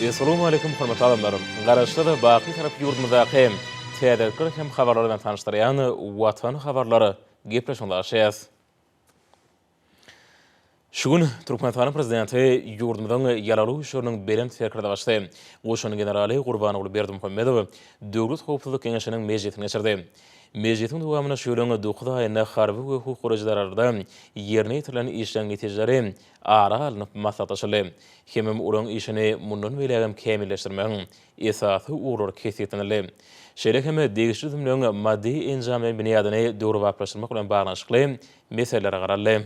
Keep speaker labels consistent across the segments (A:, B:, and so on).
A: Essalamu Aleýkum hormatly adamlar! Garaşsyz we baky Serap ýurdumyzdaky täzelikler hem habarlar bilen tanyşdyrýan Watan habarlar gepleşigini başlaýarys. Şu gün Türkmenistanyň Prezidenti ýurdumyzyň Ýaragly Güýçleriniň Belent Serkerdebaşysy, goşun generaly Gurbanguly Berdimuhamedow Döwlet howpsuzlyk geňeşiniň mejlisini geçirdi. Mejlisiň dowamynda şu ýylyň dokuz aýynda harby we hukuk goraýjylar arasynda ýerine ýetirilen işleriň netijeleri ara alnyp maslahatlaşyldy. Hemem olaryň işini mundan beýlägem kämilleşdirmegiň esasy ugurlary kesgitlenildi. Şeýle hem degişli düzümleň maddy-enjamlaýyn binýadyny döwrebaplaşdyrmak bilen baglanyşykly meselelere garaldy.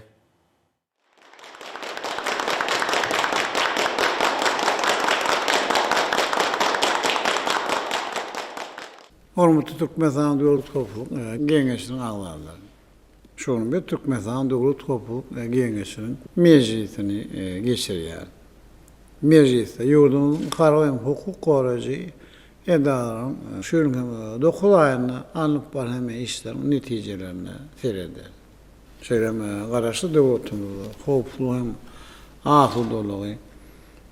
B: Hormatly Türkmenistanyň Döwlet howpsuzlyk geňeşiniň agzalary! Şu gün biz Türkmenistan Döwlet howpsuzlyk geňeşiniň mejlisini geçirýäris. Mejlisde ýurdumyzyň harby hem hukuk goraýjy edaralaryň şu ýylyň hem dokuz aýynda alnyp barýan işleriniň netijelerine serederis. Şeýle hem Garaşsyz döwletimizde howpsuzlygy hem asudalygy,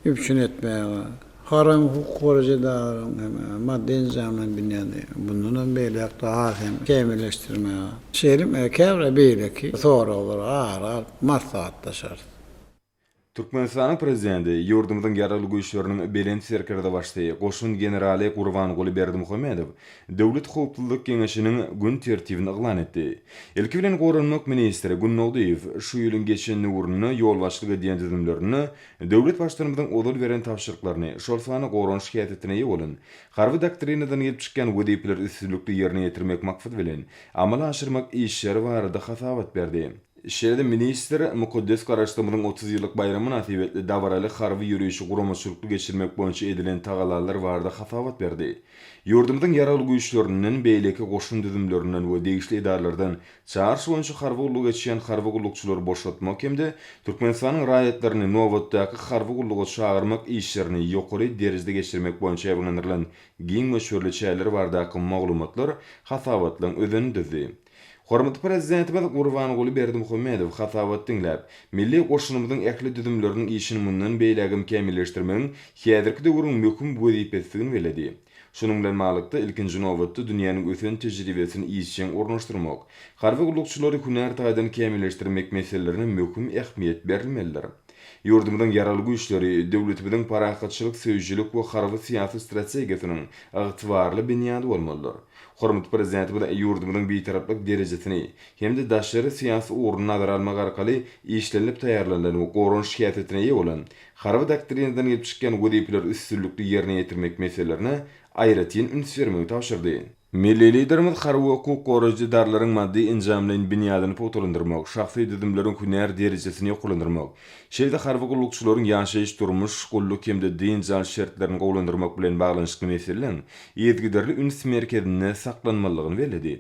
B: üpjün etmäge, haramy hukuk goraýjy edaralaryň hem maddy-enjamlaýyn binýady mundan hem beýläk daha hem kämilleşdirmäge, şeýle hem käbir beýleki soraglara ara alyp maslahatlaşarys.
C: Türkmenistanyň Prezidenti ýurdumyzyň Ýaragly Güýçleriniň Belent Serkerdebaşysy, goşun generaly Gurbanguly Berdimuhamedow Döwlet howpsuzlyk geňeşiniň gün tertibini yglan etdi. Ilki bilen, goranmak ministri Gündogdyýew şu ýylyň geçen döwründe ýolbaşçylyk edýän düzümlerinde Döwlet Baştutanymyzyň ozal beren tabşyryklaryny, şol sanda goranyş syýasatynda eýe bolan Harby doktrinadan gelip çykýan wezipeleri üstünlikli ýerine ýetirmek maksady bilen, amala aşyrmak işleri barada hasabat berdi. Şeýle-de ministr mukaddes Garaşsyzlygymyzyň otuz ýyllyk baýramy mynasybetli dabaraly harby ýörişi guramaçylykly geçirmek boýunça edilen tagallalar barada hasabat berdi. Ýurdumyzyň Ýaragly Güýçlerinden, beýleki goşun düzümlerinden we degişli edaralardan Çaryş boýunça harby gullugy geçýän harby gullukçylary boşatmak hem-de Türkmenistanyň raýatlaryny nobatdaky harby gulluga çagyrmak işlerini ýokary derejede geçirmek boýunça ýabyňlandyrylan giň möçberli çäreler baradaky maglumatlar hasabatlaryň özenini düzdi. Hormatly Prezidentimiz Gurbanguly Berdimuhamedow hasabat diňläp, milli goşunymyzyň ähli düzümleriniň işini mundan beýlägem kämilleşdirmegiň häzirki döwrüň möhüm wezipesidigini belledi. Şunuň bilen baglylykda, ilkinji nobatda, dünýäniň ösen tejribesini işjeň ornaşdyrmak, harby gullukçylary hünär taýdan kämilleşdirmek meselelerine möhüm ähmiýet berilmelidir. Ýurdumyzyň Ýaragly Güýçleri döwletimiziň parahatçylyk söýüjilik we harby-syýasy strategiýasynyň ygtybarly binýady bolmalydyr. Hormatly Prezidentimiz ýurdumyzyň Bitaraplyk derejesini hem-de daşary syýasy ugruny nazara almak arkaly işlenilip taýýarlanylan we goranyş häsiýetine eýe bolan Harby doktrinadan gelip çykýan wezipeleri üstünlikli ýerine ýetirmek meselelerine aýratyn üns bermegi tabşyrdy. Milli Liderimiz harby we hukuk goraýjy edaralaryň maddy-enjamlaýyn binýadyny pugtalandyrmak, şahsy düzümleriň hünär derejesini ýokarlandyrmak, şeýle-de harby gullukçylaryň ýaşaýyş-durmuş, gulluk hem-de dynç alyş şertlerini gowulandyrmak bilen baglanyşykly meseleleriň yzygiderli üns merkezinde saklanmalydygyny belledi.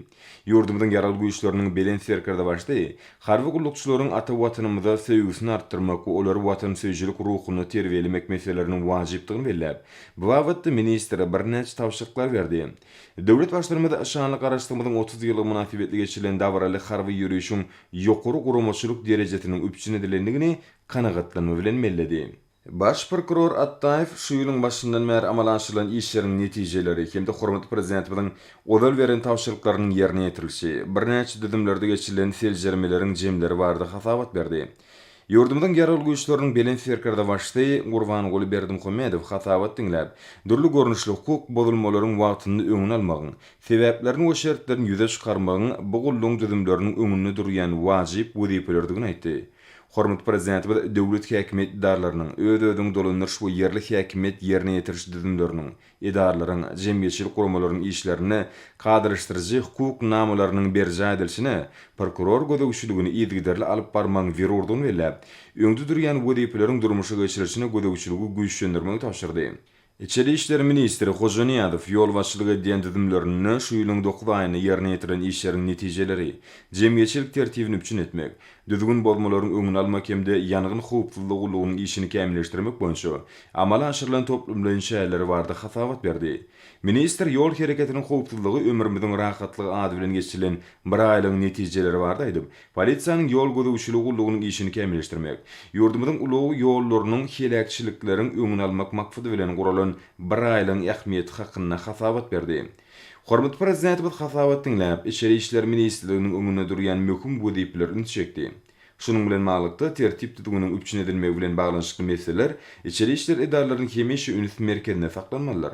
C: Ýurdumyzyň Ýaragly Güýçleriniň Belent Serkerdebaşy harby gullukçylaryň ata Watanymyza söýgüsini artdyrmak we olary watansöýüjilik ruhunda terbiýelemek meseleleriniň wajypdygyny belläp, bu babatda ministre birnäçe tabşyryklar berdi. Döwlet Baştutanymyz şanly Garaşsyzlygymyzyň otuz ýyllygy mynasybetli geçirilen dabaraly harby ýörişiň ýokary guramaçylyk derejesiniň üpjün edilendigini kanagatlanma bilen belledi. Baş prokuror Atdaýew şu ýylyň başyndan bäri amala aşyrylan işleriň netijeleri hem-de hormatly Prezidentimiziň ozal beren tabşyryklarynyň ýerine ýetirilişi, birnäçe düzümlerde geçirilen seljermeleriň jemleri barada hasabat berdi. Ýurdumyzyň Ýaragly Güýçleriniň Belent Serkerdebaşysy Gurbanguly Berdimuhamedow hasabat diňläp, dürli görnüşli hukuk bozulmalaryň wagtynda öňüni almagyň, sebäplerini we şertlerini ýüze çykarmagyň bu gullugyň düzümleriniň öňünde durýan wajyp wezipeleridigini aýtdy. Hormatly Prezidentimiz döwlet häkimiýet edaralarynyň, öz-özüňi dolandyryş we ýerli häkimiýet ýerine ýetiriş düzümleriniň, edaralaryň, jemgyýetçilik guramalaryň işlerinde kadalaşdyryjy hukuk namalarynyň berjaý edilişine prokuror gözegçiligini yzygiderli alyp barmagyň zerurdygyny belläp, öňde durýan wezipeleriň durmuşa geçirilişine gözegçiligi güýçlendirmegi tabşyrdy. Içeri işler ministri Hojanyýazow ýolbaşçylyk edýän düzümlerinde şu ýylyň dokuz aýynda ýerine ýetirilen işleriň netijeleri, jemgyýetçilik tertibini üpjün etmek, düzgün bozmalaryň öňüni almak hem-de ýangyn howpsuzlygy gullugynyň işini kämilleşdirmek boýunça amala aşyrylan toplumlaýyn çäreleri barada hasabat berdi. Ministr Ýol hereketiniň howpsuzlygy, ömrümiziň rahatlygy ady bilen geçirilen biraýlygyň netijeleri barada aýdyp, Polisiýanyň ýol gözegçiligi gullugynyň işini kämilleşdirmek, ýurdumyzyň ulag ýollarynyň heläkçilikleriň öňüni almak maksady bilen guralan biraýlygyň ähmiýeti hakynda hasabat berdi. Hormatly Prezidentimiz hasabat diňläp, Içeri işler ministrliginiň öňünde durýan möhüm wezipeler ünsi çekdi. Şunuň bilen baglylykda, tertip-düzgüniň üpjün edilmegi bilen baglanyşykly meseleler içeri işler edaralarynyň hemişe üns merkezinde saklanmalydyr.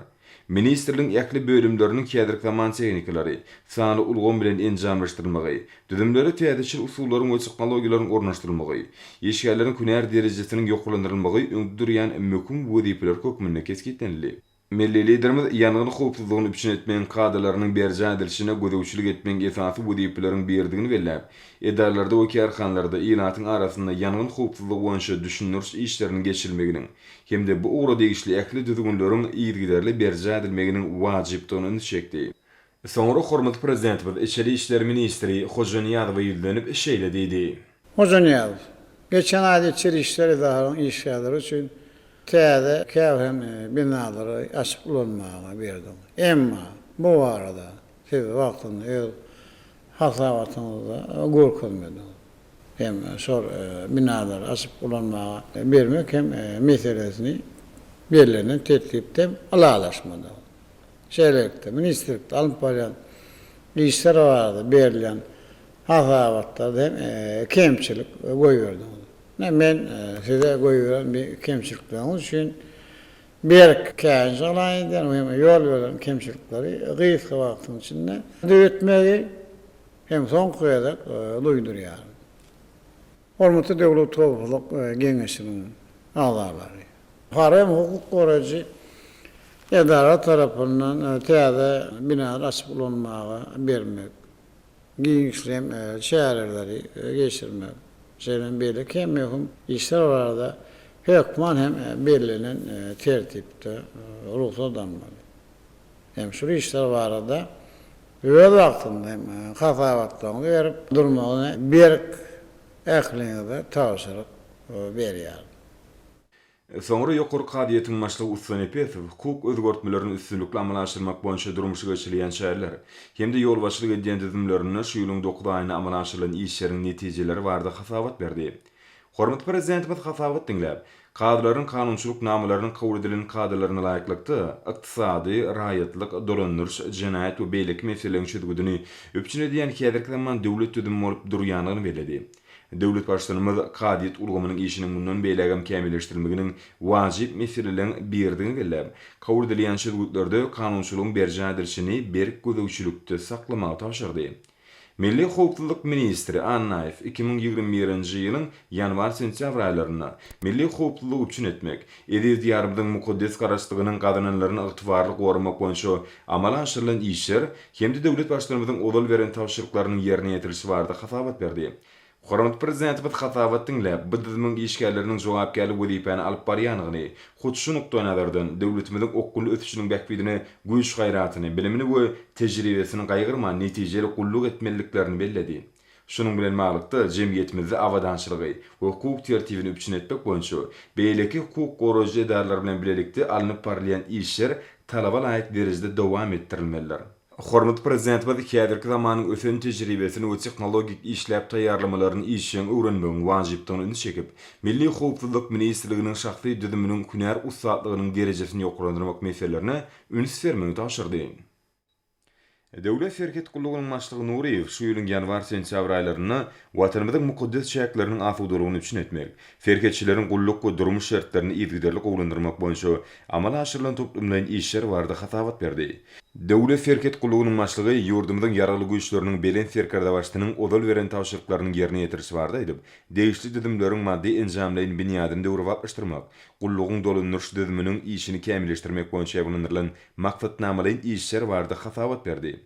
C: Ministrligiň ähli bölümleriniň häzirki zaman tehnikalary, sanly ulgam bilen enjamlaşdyrylmagy, düzümlere täzeçil usullaryň we tehnologiýalaryň ornaşdyrylmagy, işgärleriň hünär derejesiniň ýokarlandyrylmagy öňde durýan möhüm wezipeler hökmünde kesgitlenildi. Milli Liderimiz ýangyn howpsuzlygyny üpjün etmegiň kadalarynyň berjaý edilişine gözegçilik etmegiň esasy wezipeleriň biridigini belläp, edaralarda we kärhanalarda ilatyň arasynda ýangyn howpsuzlygy boýunça düşündiriş işleriniň geçirilmeginiň hem-de bu ugra degişli ähli düzgünleriň yzygiderli berjaý edilmeginiň wajypdygyna ünsi çekdi. Soňra hormatly Prezidentimiz içeri işler ministri Hojanyýazowa ýüzlenip, şeýle diýdi. Hojanyýazow,
B: geçen aýda içeri işler edarasynyň işgärleri üçin täze käbir hem binalary açyp ulanmaga berdiň. Emma, bu barada Siz wagtynda öz hasabatyňyzda görkezmediňiz. Hem şol binalary açyp ulanmaga bermek hem meselesini bellenen tertipde hem ylalaşmadyňyz. Şeýlelikde, ministrlikde alnyp barýan işler barada berilýän hasabatlarda hem kemçilik goýberdiňiz. Ine, men size goýberen bu kemçilikleriňiz üçin Berk käýinç alaý edýän we hem-de ýol beren kemçilikleri gysga wagtyň içinde döretmegi hem soňky gezek duýdurýaryn. Hormatly Döwlet howpsuzlyk geňeşiniň agzalary! Buhara hem hukuk goraýjy edara tarapyndan täze binany açyp ulanmaga bermek. giňişleýin çäreleri geçirmek, şeýle hem beýleki möhüm işler barada hökman hem bellenen tertipde rugsat almaly. Hem şul işler barada öz wagtynda hem hasabatlaryňyzy berip durmagy berk ähliňize tabşyryk berýärin.
C: Soňra ýokary kazyýetiň başlygy Ussa Nepesow hukuk özgertmelerini üstünlikli amala aşyrmak boýunça durmuşa geçirilýän çäreler hem-de ýolbaşçylyk edýän düzümlerinde şu ýylyň dokuz aýynda amala aşyrylan işleriň netijeleri barada hasabat berdi. Hormatly Prezidentimiz hasabat diňläp, kazylaryň kanunçylyk namalarynyň kabul edilen kadalaryna laýyklykda ykdysady, raýatlyk, dolandyryş, jenaýat we beýleki meseleleriň çözgüdini üpjün edýän häzirki zaman döwlet düzümi bolup durýandygyny belledi. Döwlet Baştutanymyz kazyýet ulgamynyň işiniň mundan beýlägem kämilleşdirilmeginiň wajyp meseleleriň biridigini belläp, kabul edilýän çözgütlerde kanunçylygyň berjaý edilişini berk gözegçilikde saklamagy tabşyrdy. Milli howpsuzlyk ministri Annaýew iki müň ýigrimi birinji ýylyň ýanwar-sentýabr aýlarynda milli howpsuzlygy üpjün etmek, eziz Diýarymyzyň mukaddes Garaşsyzlygynyň gazananlaryny ygtybarly goramak boýunça amala aşyrylan işler hem-de döwlet Baştutanymyzyň ozal beren tabşyryklarynyň ýerine ýetirilişi barada hasabat berdi. Hormatly Prezidentimiz hasabat diňläp, bu düzümiň işgärleriniň jogapkärli wezipäni alyp barýandygyny, hut şu nukdaýnazardan, döwletimiziň okgunly ösüşiniň bähbidine güýç-gaýratyny, bilimini we tejribesini gaýgyrman netijeli gulluk etmeliliklerini belledi. Şunuň bilen baglykda, jemgyýetimizde abadançylygy we hukuk tertibini üpjün etmek boýunça beýleki hukuk goraýjy edaralar bilen bilelikde alnyp barylýan işler talaba laýyk derejede dowam etdirilmelidir. Hormatly Prezidentimiz häzirki zamanyň ösen tejribesini we tehnologik işläp taýýarlamalaryny işjeň öwrenmegiň wajypdygyna ünsi çekip, Milli howpsuzlyk ministrliginiň şahsy düzüminiň hünär ussatlygynyň derejesini ýokarlandyrmak meselelerine üns bermegi tabşyrdy. Döwlet serhet gullugynyň başlygy Nuryýew şu ýylyň ýanwar-sentýabr aýlarynda Watanymyzyň mukaddes çäkleriniň asudalygyny üpjün etmek, serhetçileriň gulluk we durmuş şertlerini yzygiderli gowulandyrmak boýunça amala aşyrylan toplumlaýyn işler barada hasabat berdi. Döwlet serhet gullugynyň başlygy ýurdumyzyň Ýaragly Güýçleriniň Belent Serkerdebaşysynyň ozal beren tabşyryklarynyň ýerine ýetirişi barada aýdyp, degişli düzümleriň maddy-enjamlaýyn binýadyny döwrebaplaşdyrmak, gullugyň dolandyryş düzüminiň işini kämilleşdirmek boýunça ýaýbaňlandyrylan maksatnamalaýyn işler barada hasabat berdi.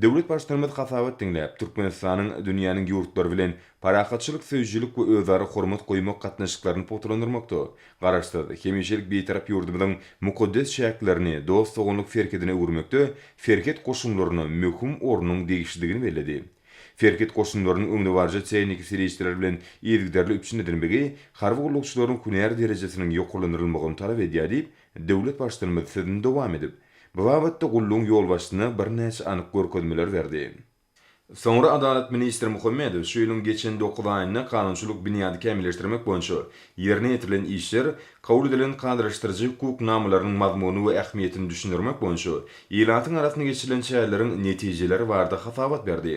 C: Döwlet Baştutanymyz hasabat diňläp, Türkmenistanyň dünýäniň ýurtlary bilen parahatçylyk söýüjilik we özara hormat goýmak gatnaşyklaryny pugtalandyrmakda Garaşsyz, hemişelik Bitarap ýurdumyzyň mukaddes çäklerini dost-doganlyk serhedine öwürmekde serhet goşunlaryna möhüm ornuň degişlidigini belledi. Serhet goşunlarynyň öňdebaryjy tehniki serişdeler bilen yzygiderli üpjün edilmegi harby gullukçylaryň hünär derejesiniň ýokarlandyrylmagyny talap edýär diýip, Döwlet Baştutanymyz sözüni dowam edip, bu babatda gullugyň ýolbaşçysyna birnäçe anyk görkezmeler berdi. Soňra adalat ministri Muhammedow şu ýylyň geçen dokuz aýynda kanunçylyk binýady kämilleşdirmek boýunça ýerine ýetirilen işler, kabul edilen kadalaşdyryjy hukuk namalarynyň mazmuny we ähmiýetini düşündirmek boýunça ilatyň arasynda geçirilen çäreleriň netijeleri barada hasabat berdi.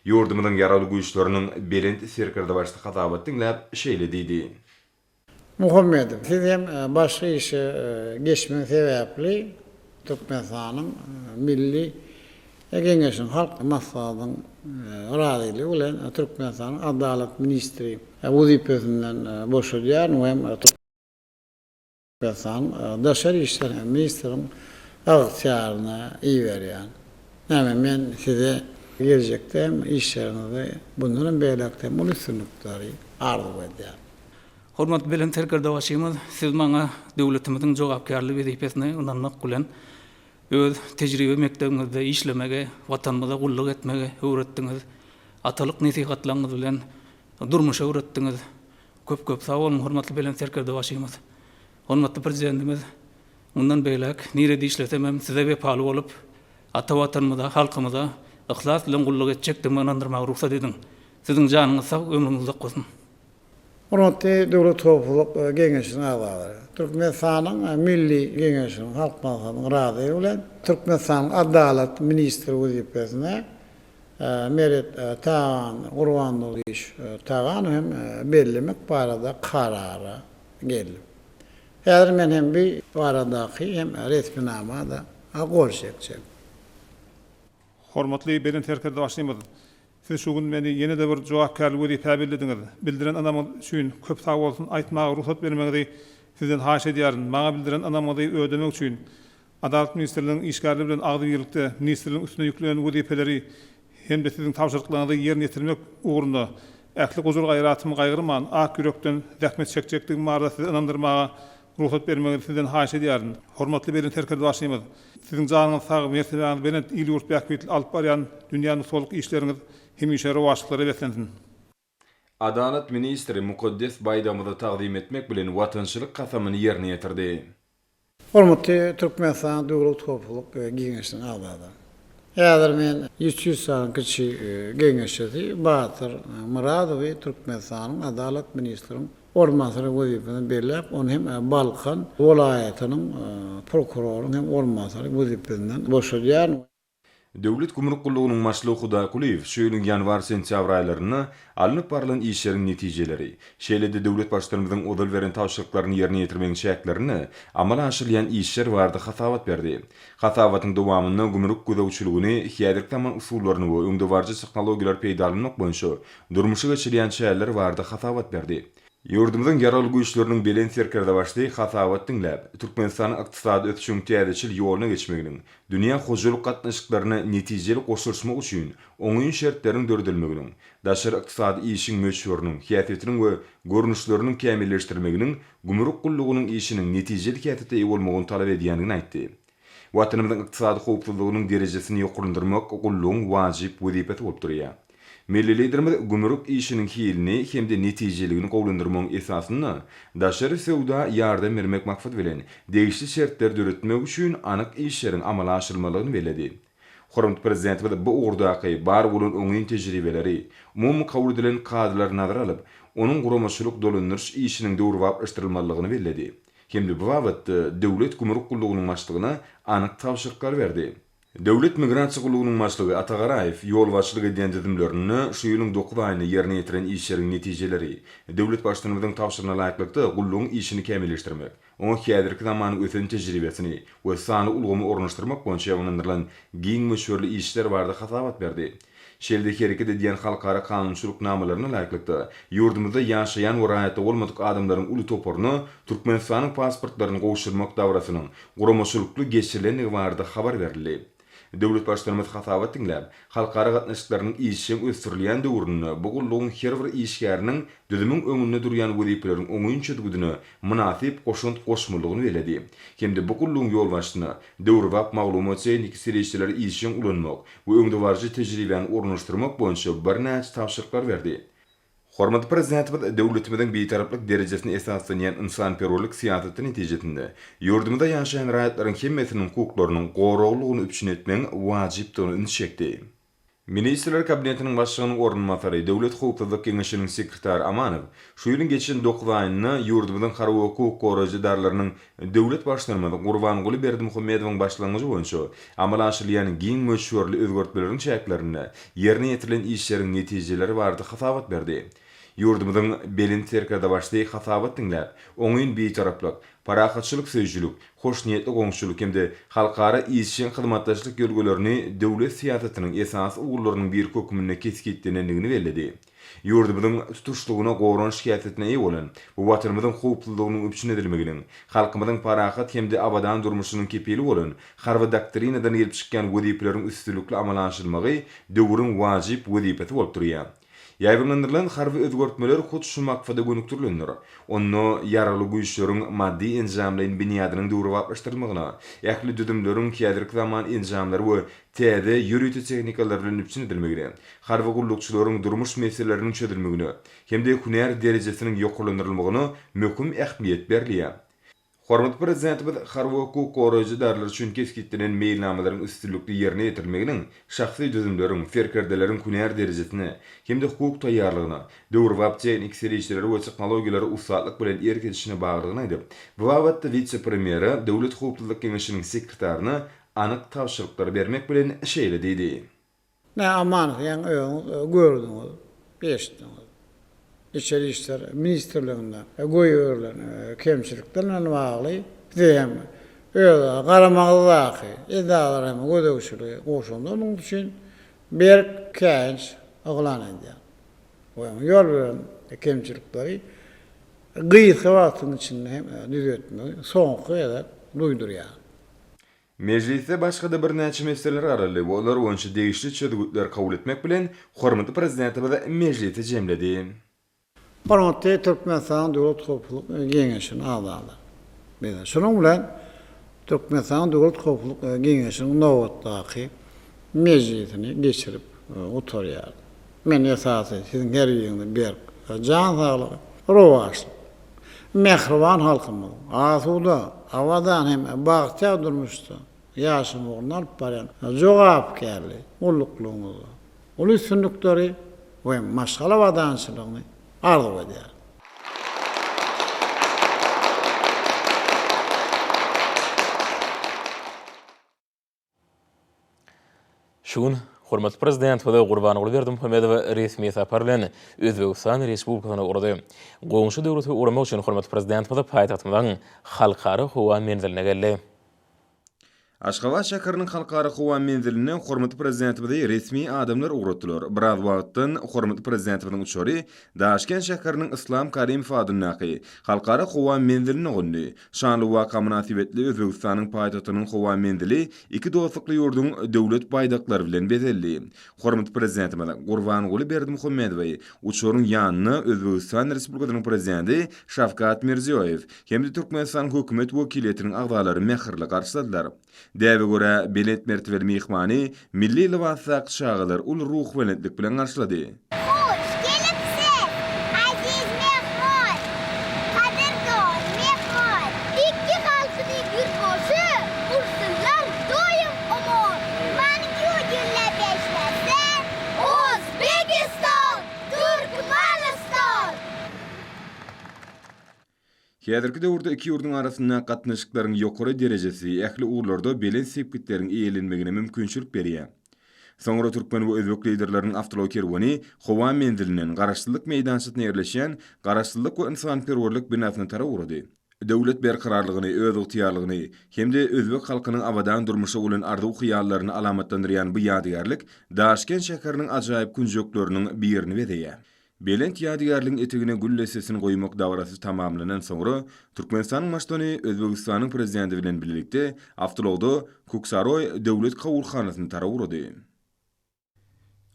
C: Ýurdumyzyň Ýaragly Güýçleriniň Belent Serkerdebaşy hasabat diňläp, şeýle diýdi.
B: Muhammedow, siz hem başga işe geçmegiň sebäpli Türkmenistanyň Milli Geňeşiniň Halk Maslahatynyň razylygy bilen Türkmenistanyň Adalat ministri wezipesinden boşadýaryn we hem Türkmenistanyň Daşary işler ministriniň ygtyýaryna iberýän. Näme men size geljekde hem işleriňizde bundan hem beýläkde hem uly üstünlikleri arzuw edýän. Hormatly
D: Belent Serkerdebaşymyz, Siz maňa döwletimiziň jogapkärli wezipesine ynanmak bilen, öz tejribe mekdebiňizde işlemegi, Watanymyza gulluk etmegi öwretdiňiz, atalyk nesihatlaryňyz bilen durmuşa öwretdiňiz. Köp-köp sag boluň, hormatly Belent Serkerdebaşymyz! Hormatly Prezidentimiz mundan beýläk nirede işlesem hem Size wepaly bolup, ata Watanymyza, halkymyza yhlas bilen gulluk etjekdigime ynandyrmagy rugsat ediň. Siziň janyňyz sag, ömrüňiz uzak bolsun! Hormatly
B: Döwlet howpsuzlyk geňeşiniň agzalary, Türkmenistanyň Milli Geňeşiniň Halk Maslahatynyň razylygy bilen, Türkmenistanyň Adalat ministri wezipesine Meret Tagan Gurbandolyýewiç Taganow hem bellemek barada karara geldim. Häzir men hem bu baradaky hem resminama-da gol çekjek. Hormatly
E: Belent Serkerdebaşymyz! Siz şu gün meni ýene-de bir jogapkärli wezipä bellediňiz. Bildiren ynamyňyz üçin köp sag bolsun aýtmaga rugsat bermegiňizi Sizden haýyş edýärin. Maňa bildiren ynamyňyzy ödemek üçin Adalat ministrliginiň işgärleri bilen agzybirlikde ministrligiň üstüne ýüklenen wezipeleri hem-de Siziň tabşyryklaryňyzy ýerine ýetirmek ugrunda ähli gujur-gaýratym gaýgyrman, ak ýürekden zähmet çekjekdigim barada Sizi ynandyrmaga Rugsat bermegiňizi sizden haýyş edýärin. Hormatly Belent Serkerdebaşymyz! Siziň janyňyz sag, mertebäňiz belent, il-ýurt bähbitli alyp barýan dünýä nusgalyk işleriňiz hemişe rowaçlyklara beslensin!
C: Adalat ministri mukaddes baýdagymyzy tagzym etmek bilen watançylyk kasamyny ýerine ýetirdi. Hormatly
B: Türkmenistanyň Döwlet howpsuzlyk geňeşiniň agzalary! Häzir men üç ýüz sany kiçi geňeşçisi Batyr Myradowy Türkmenistanyň Adalat ministriň Orunbasary wezipesini belläp, ony hem Balkan welaýatynyň prokurorynyň hem orunbasary wezipesinden boşadýar. Döwlet
C: gümrük gullugynyň başlygy Hudaý Kulyýew şu ýylyň ýanwar-sentýabr aýlarynda alnyp barlan işleriň netijeleri, şeýle-de döwlet Baştutanymyzyň ozal beren tabşyryklaryny ýerine ýetirmegiň çäklerinde amala aşyrylýan işler barada hasabat berdi. Hasabatyň dowamynda gümrük gözegçiligini häzirki zaman usullaryny we öňdebaryjy tehnologiýalary peýdalanmak boýunça durmuşa geçirýän çäreleri barada hasabat berdi. Ýurdumyzyň Ýaragly Güýçleriniň Belent Serkerdebaşy hasabat diňläp, Türkmenistanyň ykdysady ösüşiň täzeçil ýoluna geçmeginiň, dünýä hojalyk gatnaşyklaryna netijeli goşulyşmak üçin oňyn şertleriň döredilmeginiň, daşary ykdysady işiň möçberiniň, häsiýetiniň we görnüşleriniň kämilleşdirilmeginiň gümrük gullugynyň işiniň netijeli häsiýete eýe bolmagyny talap edýändigini aýtdy. Watanymyzyň ykdysady howpsuzlygynyň derejesini ýokarlandyrmak gullugyň wajyp wezipesi bolup durýar. Milli Liderimiz gümrük işiniň hilini hem-de netijeliligini gowulandyrmagyň esasynda daşary söwda ýardam bermek maksady bilen, degişli şertleri döretmek üçin anyk işleriň amala aşyrylmalydygyny belledi. Hormatly Prezidentimiz bu ugurdaky bar bolan oňyn tejribeleri, umumy kabul edilen kadalary nazara alyp, onuň guramaçylyk dolandyryş işiniň döwrebaplaşdyrylmalydygyny belledi hem-de bu babatda Döwlet gümrük gullugynyň başlygyna anyk tabşyryklary berdi. Döwlet migrasiýa gullugynyň başlygy Atagaraýew ýolbaşçylyk edýän düzümlerinde şu ýylyň dokuz aýynda ýerine ýetiren işleriň netijeleri, döwlet Baştutanymyzyň tabşyrygyna laýyklykda gullugyň işini kämilleşdirmek, Oňa häzirki zamanyň ösen tejribesini we sanly ulgamy ornaşdyrmak boýunça ynandyrylan giň möçberli işler barada hasabat berdi. Şeýle-de hereket edýän halkara kanunçylyk namalaryna laýyklykda, ýurdumyzda ýaşaýan we raýatlygy bolmadyk adamlaryň uly toparyna Türkmenistanyň pasportlaryny gowşurmak dabarasynyň guramaçylykly geçirilendigi barada habar berildi. Döwlet Baştutanymyz hasabat diňläp, halkara gatnaşyklarynyň işjeň ösdürilýän döwründe bu gullugyň her bir işgäriniň düzümiň öňünde durýan wezipeleriň oňyn çözgüdine mynasyp goşant goşmalydygyny belledi hem-de bu gullugyň ýolbaşçysyna döwrebap maglumat-tehniki serişdeleri işjeň ulanmak we öňdebaryjy tejribäni ornaşdyrmak boýunça birnäçe tabşyryklar berdi. Hormatly Prezidentimiz döwletimiziň Bitaraplyk derejesine esaslanýan ynsanperwerlik syýasaty netijesinde ýurdumyzda ýaşaýan raýatlaryň hemmesiniň hukuklarynyň goraglylygyny üpjün etmegiň wajypdygyna ünsi çekdi. Ministrler Kabinetiniň Başlygynyň orunbasary, Döwlet howpsuzlyk geňeşiniň sekretary Amanow şu ýylyň geçen dokuz aýynda ýurdumyzyň harby we hukuk goraýjy edaralarynyň Döwlet Baştutanymyz Gurbanguly Berdimuhamedowyň başlangyjy boýunça amala aşyrylýan giň möçberli özgertmeleriň çäklerinde ýerine ýetirilen işleriň netijeleri barada hasabat berdi. Ýurdumyzyň Belent Serkerdebaşy hasabat diňläp, oňyn Bitaraplyk, parahatçylyk söýüjilik, hoşniýetli goňşuçylyk hem-de halkara işjeň hyzmatdaşlyk ýörgelerini döwlet syýasatynyň esasy ugurlarynyň biri hökmünde kesgitlenendigini belledi. Ýurdumyzyň tutuşlygyna goran şikesesine eýe bolan, bu Watanymyzyň howpsuzlygynyň üpjün edilmeginiň, halkymyzyň parahat hem-de abadan durmuşynyň kepili bolan Harby doktrinadan gelip çykýan wezipeleriň üstünlikli amala aşyrylmagy döwrüň wajyp wezipesi bolup durýar. Ýaýbaňlandyrylan harby özgertmeler hut şu maksada gönükdirilendir. Onda Ýaragly Güýçleriň maddy-enjamlaýyn binýadynyň döwrebaplaşdyrylmagyna, ähli düzümleriň häzirki zaman enjamlary we täze ýörite tehnikalar bilen üpjün edilmegine, harby gullukçylaryň durmuş meseleleriniň çözülmegine hem-de hünär derejesiniň ýokarlandyrylmagyna möhüm ähmiýet berilýär. Hormatly Prezidentimiz harby hukuk goraýjy edaralary üçin kesgitlenen meýilnamalaryň üstünlikli ýerine ýetirilmeginiň şahsy düzümleriň, serkerdeleriň hünär derejesine hem-de hukuk taýýarlygyna, döwrebap tehniki serişdelere we tehnologiýalara ussatlyk bilen erk edişine baglydygyny aýdyp, bu babatda wise-premýere Döwlet howpsuzlyk geňeşiniň sekretaryna anyk tabşyryklary bermek bilen şeýle diýdi. Nä aman
B: ýaň öňüz gördüňiz, eşitdiňiz. Içeri işler ministrliginde goýberilen kemçilikler bilen bagly size hem öz garamagyňyzdaky edaralary hem gözegçiligi goşuňda munuň üçin berk käýinç yglan edýän we öňe ýol beren kemçilikleri gysga wagtyň içinde hem düzetmegi soňky gezek duýdurýan.
C: Mejlisde başga-da birnäçe meseleler garaldy we olar boýunça degişli çözgütleri kabul etmek bilen, hormatly Prezidentimiz mejlisi jemledi.
B: Hormatly Türkmenistanyň Döwlet howpsuzlyk geňeşiniň agzalary! Biz şunuň bilen Türkmenistanyň Döwlet howpsuzlyk geňeşiniň nobatdaky mejlisini geçirip gutarýarys. Men esasy Siziň her biriňize berk jan saglygy, rowaçlyk, mähriban halkymyz asuda, abadan hem bagtyýar durmuşda ýaşama ugrunda alyp barýan jogapkärli gulluklygyňyzda uly üstünlikleri we maşgala abadançylygyny arzuw edýärin.
A: Şu gün hormatly Prezidentimiz Gurbanguly Berdimuhamedow resmi sapar bilen Özbegistan Respublikasyna ugrady. Goňşy döwlete ugramak üçin hormatly Prezidentimiz paýtagtymyzyň Halkara howa menziline geldi.
C: Aşgabat şäheriniň Halkara howa menziline hormatly Prezidentimizi resmi adamlar ugratdylar. Biraz wagtdan hormatly Prezidentimiziň uçary Daşkent şäheriniň Yslam Karimow adyndaky Halkara howa menziline gondy. Şanly waka mynasybetli Özbegistanyň paýtagtynyň howa menzili iki dostlukly ýurduň Döwlet baýdaklary bilen bezeldi. Hormatly Prezidentimiz Gurbanguly Berdimuhamedowy uçaryň ýanyna Özbegistan Respublikasynyň Prezidenti Şawkat Mirziýoýew hem-de Türkmenistanyň Hökümet wekiliýetiniň agzalary mähirli garşyladylar. Däbe görä, belent mertebeli myhmany milli lybasdaky çagalar uly ruhubelentlik bilen garşylady. Hoş
F: gelipsiz, aziz myhman, gadyrdan myhman! Ikki galşyny gür goşy ursynlar doýum omon! Manyň ýüz ýülle beşlese, Ozbegistan, Türkmenistan!
C: Häzirki döwürde iki ýurduň arasyndaky gatnaşyklaryň ýokary derejesi ähli ugurlarda belent sepgitleriň eýelenmegine mümkinçilik berýär. Soňra türkmen we özbek liderleriniň awtoulagy kerweni howa menzilinden Garaşsyzlyk meýdançasyna ýerleşýän Garaşsyzlyk we ynsanperwerlik binasyna tarap ugrady. Döwlet berkararlygyny, özygtyýarlygyny hem-de özbek halkynyň abadan durmuşa bolan arzuw-hyýallaryny alamatlandyrýan bu ýadygärlik Daşkent şäheriniň ajaýyp künjekleriniň birini bezeýär. Belent ýadygärligiň etegine gül dessesini goýmak dabarasy tamamlanan soňra, Türkmenistanyň Baştutany Özbegistanyň Prezidenti bilen bilelikde awtoulagda Kuksaroý döwlet kabulhanasyna tarap ugrady.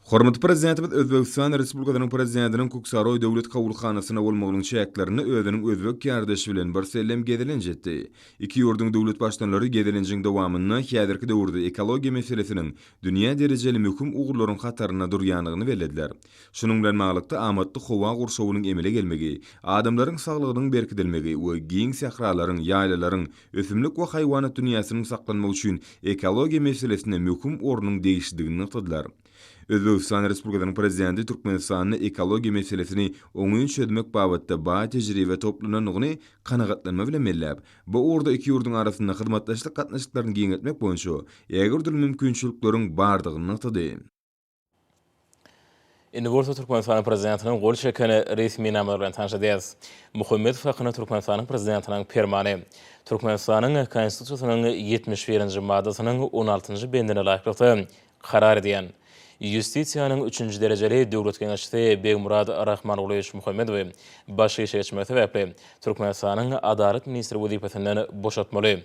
C: Hormatly Prezidentimiz Özbegistan Respublikasynyň Prezidentiniň Kuksaroý döwlet kabulhanasynda bolmagynyň çäklerinde özüniň özbek kärdeşi bilen birsellem gezelenç etdi. Iki ýurduň döwlet Baştutanlary gezelenjiň dowamynda häzirki döwürde ekologiýa meselesiniň dünýä derejeli möhüm ugurlaryň hatarynda durýandygyny bellediler. Şunuň bilen baglylykda amatly howa gurşawynyň emele gelmegi, adamlaryň saglygynyň berkidilmegi we giň sähralaryň, ýaýlalaryň, ösümlik we haýwanat dünýäsiniň saklanmagy üçin ekologiýa meselesine möhüm ornuň degişlidigini nygtadylar. Özbegistan Respublikasynyň Prezidenti Türkmenistanda ekologiýa meselesini oňyn çözmek babatda baý tejribe toplanandygyny kanagatlanma bilen belläp, bu ugurda iki ýurduň arasynda hyzmatdaşlyk gatnaşyklaryny giňeltmek boýunça ägirdürli mümkinçilikleriň bardygyny nygtady.
A: Indi bolsa Türkmenistanyň prezidentiniň gol çeken resminamalary bilen tanşadyas. Muhammedow hakynda Türkmenistanyň prezidentiniň Permany. Türkmenistanyň Konstitusiýasynyň ýetmiş birinji maddasynyň on altynjy bendine laýyklykda karar edýän. Ýustisiýanyň üçünji derejeli döwlet geňeşçisi Begmurad Rahmangulyýewiç Muhammedowy baş işegeçmegi sebäpli Türkmenistanyň Adalat ministri wezipesinden boşatmaly.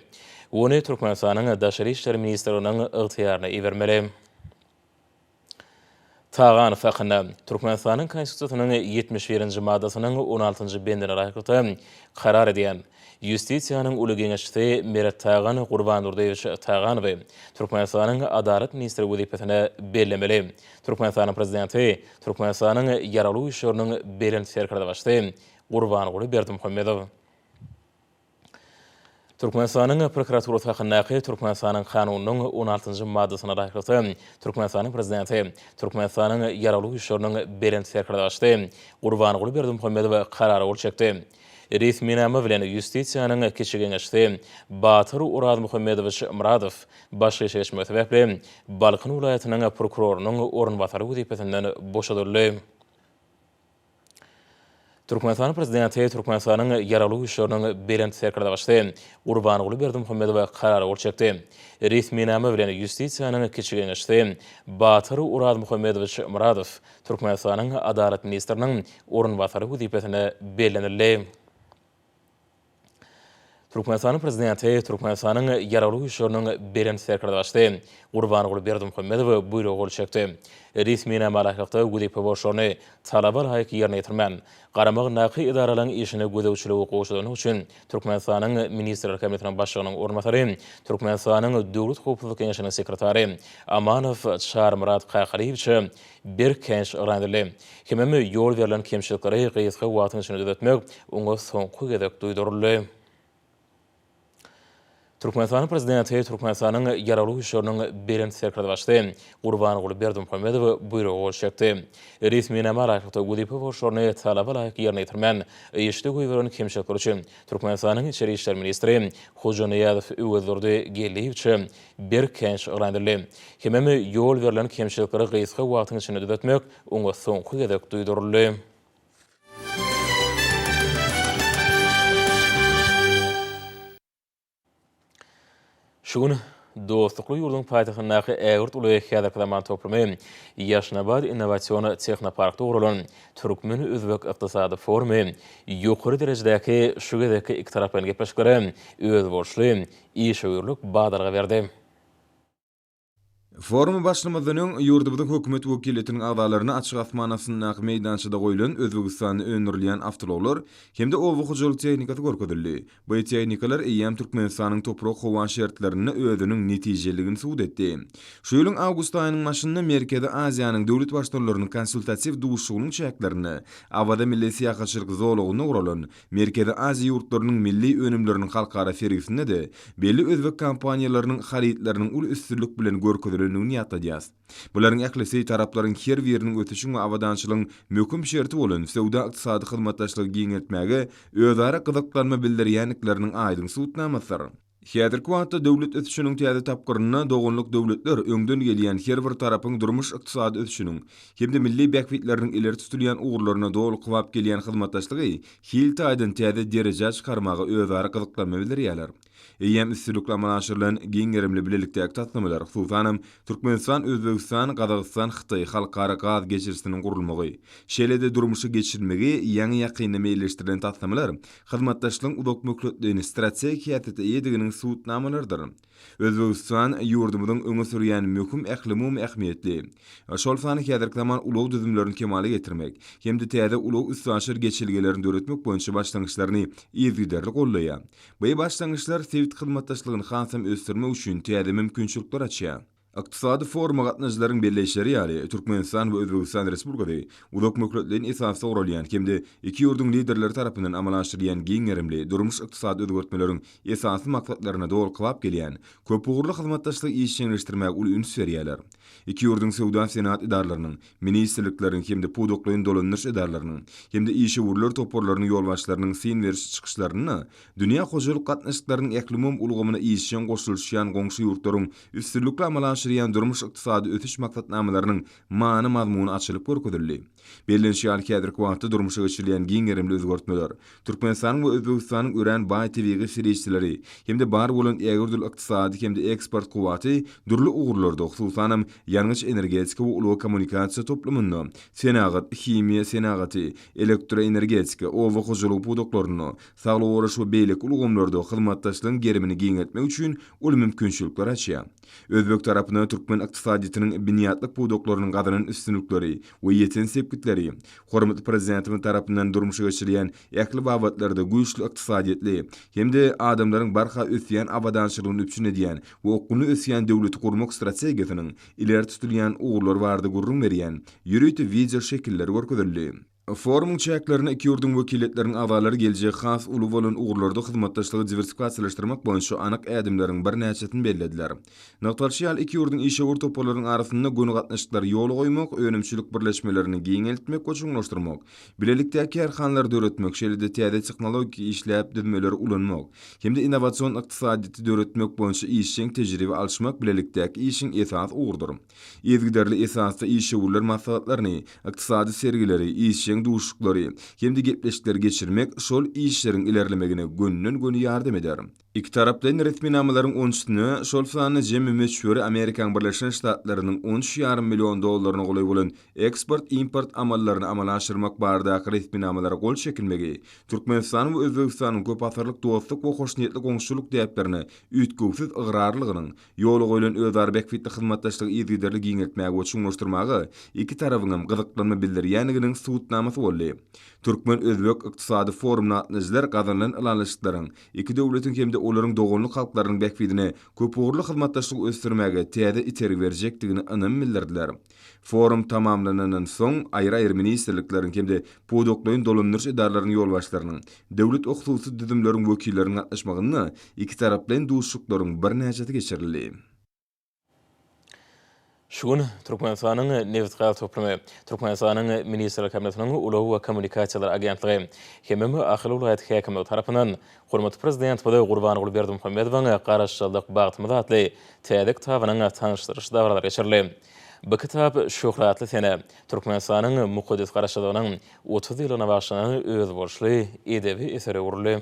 A: Ony Türkmenistanyň Daşary işler ministrliginiň ygtyýaryna ibermeli. Tagan sakynda, Türkmenistanyň Konstitusiýasynyň ýetmiş birinji maddasynyň on altynjy bendine laýyklykda karar edýän Ýustisiýanyň uly geňeşçisi Meret Tagan Gurbandurdyýewiç Taganowy Türkmenistanyň Adalat ministri wezipesine bellemeli. Türkmenistanyň Prezidenti Türkmenistanyň Ýaragly Güýçleriniň Belent Serkerdebaşysy Gurbanguly Berdimuhamedow Türkmenistanyň prokuraturasy hakyndaky Türkmenistanyň Kanunynyň on altynjy maddasyna laýyklykda, Türkmenistanyň Prezidenti, Türkmenistanyň Ýaragly Güýçleriniň Belent Serkerdaşy Gurbanguly Berdimuhamedow Karara gol çekdi. Resminama bilen Ýustisiýanyň Kiçi geňeşçisi Batyr Orazmuhammedowiç Myradow baş geçirişmegi sebäpli Balkan welaýatynyň prokurorynyň orunbasary wezipesinden boşadyldy. Türkmenistanyň Prezidenti Türkmenistanyň Ýaragly Güýçleriniň Belent Serkerdagysy Gurbanguly Berdimuhamedowa Karar gol çekdi. Resminama bilen Ýustisiýanyň Kiçi geňeşçisi Batyr Orazmuhammedowiç Myradow Türkmenistanyň Adalat ministriniň orunbasary wezipesine bellenildi. Türkmenistanyň Prezidenti Türkmenistanyň Ýaragly Güýçleriniň Belent Serkerdebaşysy Gurbanguly Berdimuhamedowa buýruga gol çekdi. Resminama laýyklykda wezipe borçlaryny talaba laýyk ýerine ýetirmän, garamagyndaky edaralaryň işine gözegçiligi gowşadandygy üçin Türkmenistanyň Ministrler Kabinetiniň Başlygynyň orunbasary, Türkmenistanyň Döwlet howpsuzlyk geňeşiniň sekretary Amanow Çarymyrat Kakalyýewiçe Berk känçi yran edildi. Kimem ýol berlen kemçilikleri gysga wagtyň içinde düzetmek oňa soňky gezek duýduryldy. Türkmenistanyň Prezidenti Türkmenistanyň Ýaragly Güýçleriniň Belent Serkerdebaşysy Gurbanguly Berdimuhamedow Buýruga gol çekdi. Resminama laýyklykda wezipe borçlaryny talaba laýyk ýerine ýetirmän, işde goýberen kemçilikleri üçin Türkmenistanyň Içeri işler ministri Hojaniýazow Öwezdurdy Geldiýewiçe Berk känçi yglan edildi. Hemem ýol berlen kemçilikleri gysga wagtyň içinde düzetmek oňa soňky gezek duýduryldy. Şu gün dostlukly ýurduň paýtagtyndaky ägirt uly häzirki zaman toplumy, Ýaşnabat innowasion tehnoparkda guralan türkmen-özbek ykdysady forumy ýokary derejedäki şu gezekki ikitaraplaýyn gepleşiklere özboluşly işewürlik badalga berdi.
C: Foruma başlamazdan öň, ýurdumyzyň Hökümet wekiliýetiniň agzalaryna açyk asman astyndaky meýdançada goýlan Özbegistanda öndürilýän awtoulaglar hem-de oba hojalyk tehnikasy görkezildi. Bu tehnikalar eýýäm Türkmenistanyň toprak-howa şertlerinde özüniň netijeliligini subut etdi. Şu ýylyň awgust aýynyň başynda Merkezi Aziýanyň döwlet Baştutanlarynyň konsultatiw duşuşygynyň çäklerinde Awaza milli syýahatçylyk zolagynda guralan Merkezi Aziýa ýurtlarynyň milli önümleriniň halkara sergisinde-de belli özbek kompaniýalarynyň harytlarynyň uly üstünlik bilen görkezilendigini ýatladýarys. Bularyň ählisi taraplaryň her biriniň ösüşiň we abadançylygyň möhüm şerti bolan söwda-ykdysady hyzmatdaşlygy giňeltmäge özara gyzyklanma bildirýändikleriniň aýdyň subutnamasydyr. Häzirki wagtda döwlet ösüşiniň täze tapgyrynda doganlyk döwletler öňden gelýän her bir tarapyň durmuş-ykdysady ösüşiniň hem-de milli bähbitleriniň ileri tutulýan ugurlaryna doly kybap gelýän hyzmatdaşlygy hil taýdan täze derejä çykarmaga özara gyzyklanma bildirýärler. Eýýäm üstünlikli amala aşyrylan giň gerimli bilelikdäki taslamalar, hususanam, Türkmenistan, Özbegistan, Gazagystan, Hytaý halkara gaz geçirijisiniň gurulmagy, şeýle-de durmuşa geçirilmegi ýaňy-ýakynda meýilleşdirilen taslamalar Hyzmatdaşlygyň uzakmöhletli strategik häsiýete eýediginiň subutnamalarydyr. Özbegistan ýurdumyzyň öňe sürýän möhüm ählumumy ähmiýetli, şol sanda häzirki zaman ulag düzümlerini kemala getirmek hem-de täze ulag-üstaşyr geçelgelerini döretmek boýunça başlangyçlaryny yzygiderli gollaýar. Bu başlangyçlar sebit hyzmatdaşlygyny hasam ösdürmek üçin täze mümkinçilikleri açýar. Ykdysady foruma gatnaşyjylaryň belleýişleri ýaly, Türkmenistan we Özbegistan Respublikasy uzak möhletleýin esasda guralýan hem-de iki ýurduň Liderleri tarapyndan amala aşyrylýan giň gerimli durmuş-ykdysady özgertmeleriň esasy maksatlaryna dolklap gelýän köpugurly hyzmatdaşlygy işjeňleşdirmäge uly üns berýärler. Iki ýurduň söwda-senagat edaralarynyň, ministrlikleriň hem-de pudaklaýyn dolandyryş edaralarynyň hem-de işewürler toparlarynyň ýolbaşçylarynyň syn beriş çykyşlarynda dünýä hojalyk gatnaşyklarynyň ählumumy ulgamyna işjeň goşulyşýan goňşy ýurtlaryň üstünlikli amala aşyrýan durmuş-ykdysady ösüş maksatnamalarynyň many-mazmuny açylyp görkezildi. Bellenişi ýaly, häzirki wagtda durmuşa geçirilýän giň gerimli özgertmeler, Türkmenistanyň we Özbegistanyň örän baý tebigy serişdeleri hem-de bar bolan ägirdürli ykdysady hem-de eksport kuwwaty dürli ugurlarda, hususanam, ýangyç-energetika we ulag-kommunikasiýa toplumynda, senagat, himiýa senagaty, elektroenergetika, oba hojalygy pudaklarynda, Saglygy goraýyş we beýleki ulgamlarda hyzmatdaşlygyň gerimini giňeltmek üçin uly mümkinçilikler açýar. Özbek tarapyna türkmen ykdysadyýetiniň binýatlyk pudaklarynyň gazanan üstünlikleri we ýeten sepgitleri, hormatly Prezidentimiz tarapyndan durmuşa geçirilýän ähli babatlarda güýçli ykdysadyýetli hem-de adamlaryň barha ösýän abadançylygyny üpjün edýän we okgunly ösýän döwleti gurmak strategiýasynyň ileri tutulýan ugurlary barada gürrüň berýän ýörite wideoşekiller görkezildi. Forumyň çäklerinde iki ýurduň wekiliýetleriniň agzalary geljegi has uly bolan ugurlarda hyzmatdaşlygy diwersifikasiýalaşdyrmak boýunça anyk ädimleriň birnäçesini bellediler. Nygtalyşy ýaly, iki ýurduň işewür toparlarynyň arasynda göni gatnaşyklary ýola goýmak, önümçilik birleşmelerini giňeltmek we çuňlaşdyrmak, bilelikdäki kärhanalary döretmek, şeýle-de täze tehnologik işläp düzmeleri ulanmak hem-de innowasion ykdysadyýeti döretmek boýunça işjeň tejribe alyşmak bilelikdäki işiň esasy ugrudyr. Yzygiderli esasda işewürler maslahatlaryny, ykdysady sergileri, işjeň duşuşyklary hem-de gepleşikleri geçirmek şol işleriň ilerlemegine gönden-göni ýardam eder. Ikitaraplaýyn resminamalaryň on üçüsine, şol sanda jemi möçberi Amerikaň Birleşen Ştatlarynyň on üç ýarym million dollaryna golaý bolan eksport-import amallaryny amala aşyrmak baradaky resminamalara gol çekilmegi Türkmenistanyň we Özbegistanyň köpasyrlyk dostluk we hoşniýetli goňşuçylyk däplerine üýtgewsiz ygrarlygynyň Ýola goýlan özara bähbitli hyzmatdaşlygy yzygiderli giňeltmäge we çuňlaşdyrmaga iki tarabyň hem gyzyklanma bildirýändiginiň subutnamasy boldy. Türkmen-özbek ykdysady forumyna gatnaýjylar gazanylan ylalaşyklaryň iki döwletiň hem-de olaryň doganlyk halklarynyň bähbidine köpugurly hyzmatdaşlygy ösdürmäge täze itergi berjekdigine ynam bildirdiler. Forum tamamlanandan soň, aýry-aýry ministrlikleriň hem-de pudaklaýyn dolandyryş edaralaryň ýolbaşçylarynyň, döwlet-hususy düzümleriň wekilleriniň gatnaşmagynda ikitaraplaýyn duşuşyklaryň birnäçesi geçirildi.
A: Şu gün Türkmenistanyň Nebitgaz toplumy, Türkmenistanyň Ministrler Kabinetiniň Ulag we kommunikasiýalar agentligi hemem Ahal welaýat häkimligi tarapyndan Hormatly Prezidentimiz Gurbanguly Berdimuhamedowyň Garaşsyzlyk, bagtymyz atly täze kitabynyň tanyşdyryş dabaralary geçirildi. Bu kitap şöhratly senä, Türkmenistanyň mukaddes Garaşsyzlygynyň otuz ýyllygyna bagyşlanan özboluşly edebi esere öwrüldi.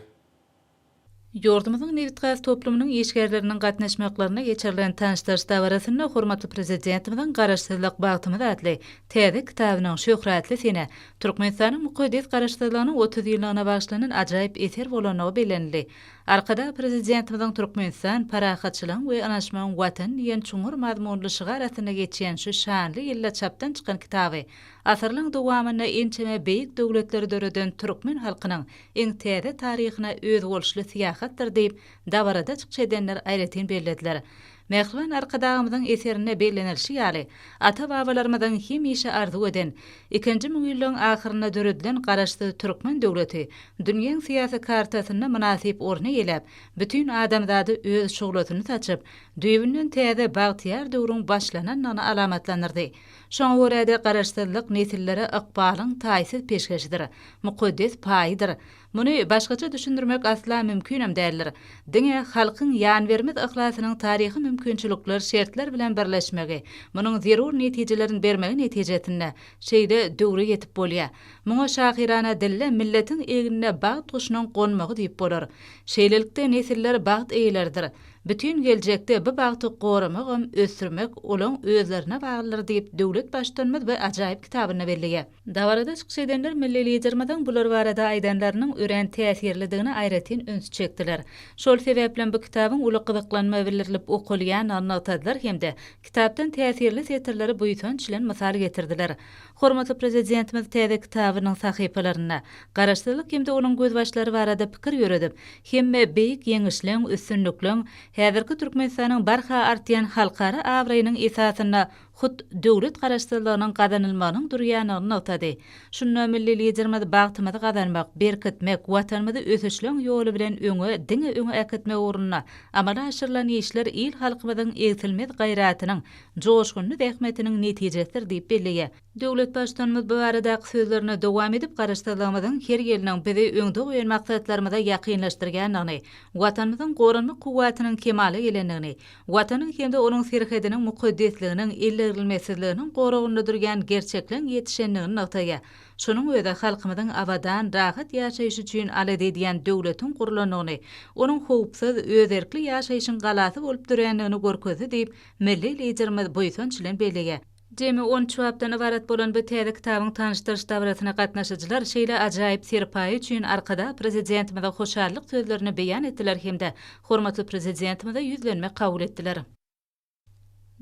G: Ýurdumyzyň nebitgaz toplumynyň işgärleriniň gatnaşmaklarynda geçirilen tanyşdyryş dabarasynda hormatly Prezidentimiziň Garaşsyzlyk, bagtymyz atly täze kitabynyň şöhratly senä, Türkmenistanyň mukaddes Garaşsyzlygynyň otuz ýyllygyna bagyşlanan ajaýyp eser bolandygy bellenildi. Arkadag Prezidentimiziň Türkmenistan, parahatçylygyň we ynanyşmagyň Watany diýen çuňňur mazmunly şygar astynda geçýän şu şanly ýylda çapdan çykan kitaby asyrlaryň dowamynda ençeme beýik döwletleri döreden türkmen halkynyň iň täze taryhyna özboluşly syýahatdyr diýip, dabarada çykyş edenler aýratyn bellediler. Mähriban Arkadagymyzyň eserinde bellenilişi ýaly, ata-babalarymyzyň hemişe arzuw eden, ikinji müňýyllygyň ahyrynda döredilen Garaşsyz türkmen döwleti dünýäň syýasy kartasynda mynasyp orun eýeläp, bütin adamzada öz şuglasyny saçyp, düýbünden täze bagtyýar döwrüň başlanandygyny alamatlandyrdy. Şoňa görä-de, Garaşsyzlyk nesillere ykbalyň taýsyz peşgeşidir, mukaddes paýydyr. Muny başgaça düşündirmek asla mümkinem däldir. Diňe halkyň ýanbermez yhlasynyň taryhy mümkinçilikler, şertler bilen birleşmegi, munuň zerur netijelerin bermegi netijesinde, şeýle döwre ýetip bolýa. Muňa şahyrana dille milletiň egnine bagt guşunyň gonmagy diýip bolar. Şeýlelikde nesiller bagt eýeleridir. Bütin geljekde bu bagty goramagam, ösdürmek olaň özlerine baglydyr diýip Döwlet Baştutanymyz bir ajaýyp kitabynda belleýä. Dabarada çykyş edenler milli Liderimiziň bular barada aýdanlarynyň örän täsirlidigine aýratyn üns çekdiler. Şol sebäplem bu kitabyň uly gyzyklanma bildirilip okalýandygy nygtadylar hem-de kitapdan täsirli setirleri buýsanç bilen mysal getirdiler. Hormatly Prezidentimiz täze kitabynyň sahypalarynda Garaşsyzlyk hem-de onuň gözbaşlary barada pikir ýöredip, hemme beýik ýeňişleň, üstünlikleň, häzirki Türkmenistanyň barha artýan halkara abraýynyň esasynda hut döwlet Garaşsyzlygynyň gazanylmagynyň durýanyny nygtady. Şunda milli Liderimiz bagtymyzy gazanmak, berkitmek, Watanymyzy ösüşleň ýoly bilen öňe, diňe öňe äkitmek ugrunda amala aşyrylan işler il-halkymyzyň egsilmez gaýratynyň, joşgunly zähmetiniň netijesidir diýip belleýär. Döwlet Baştutanymyz bu baradaky sözlerini dowam edip, Garaşsyzlygymyzyň her ýylnyň bizi öňde goýan maksatlarymyza ýakynlaşdyrýandygyny, Watanymyzyň goranmak kuwwatynyň kemala gelendigini, Watanyň hem-de onuň serhediniň mukaddesliginiň, ellerilmesizliginiň goragynda durýan gerçekleň ýetişendigini nygtaýar. Şonuň özi halkymyzyň abadan, rahat ýaşaýşy üçin alada edýän döwletiň gurlandygyny, onuň howpsuz, özerkli ýaşaýşyň galasy bolup dörändigini görkezdi diýip, milli Liderimiz buýsanç bilen belleýär. Jemi on üç bapdan ybarat bolan bu täze kitabyň tanyşdyryş dabarasyna gatnaşyjylar şeýle ajaýyp serpaýy üçin Arkadag Prezidentimize hoşallyk sözlerini beýan etdiler hem-de hormatly Prezidentimize ýüzlenme kabul etdiler.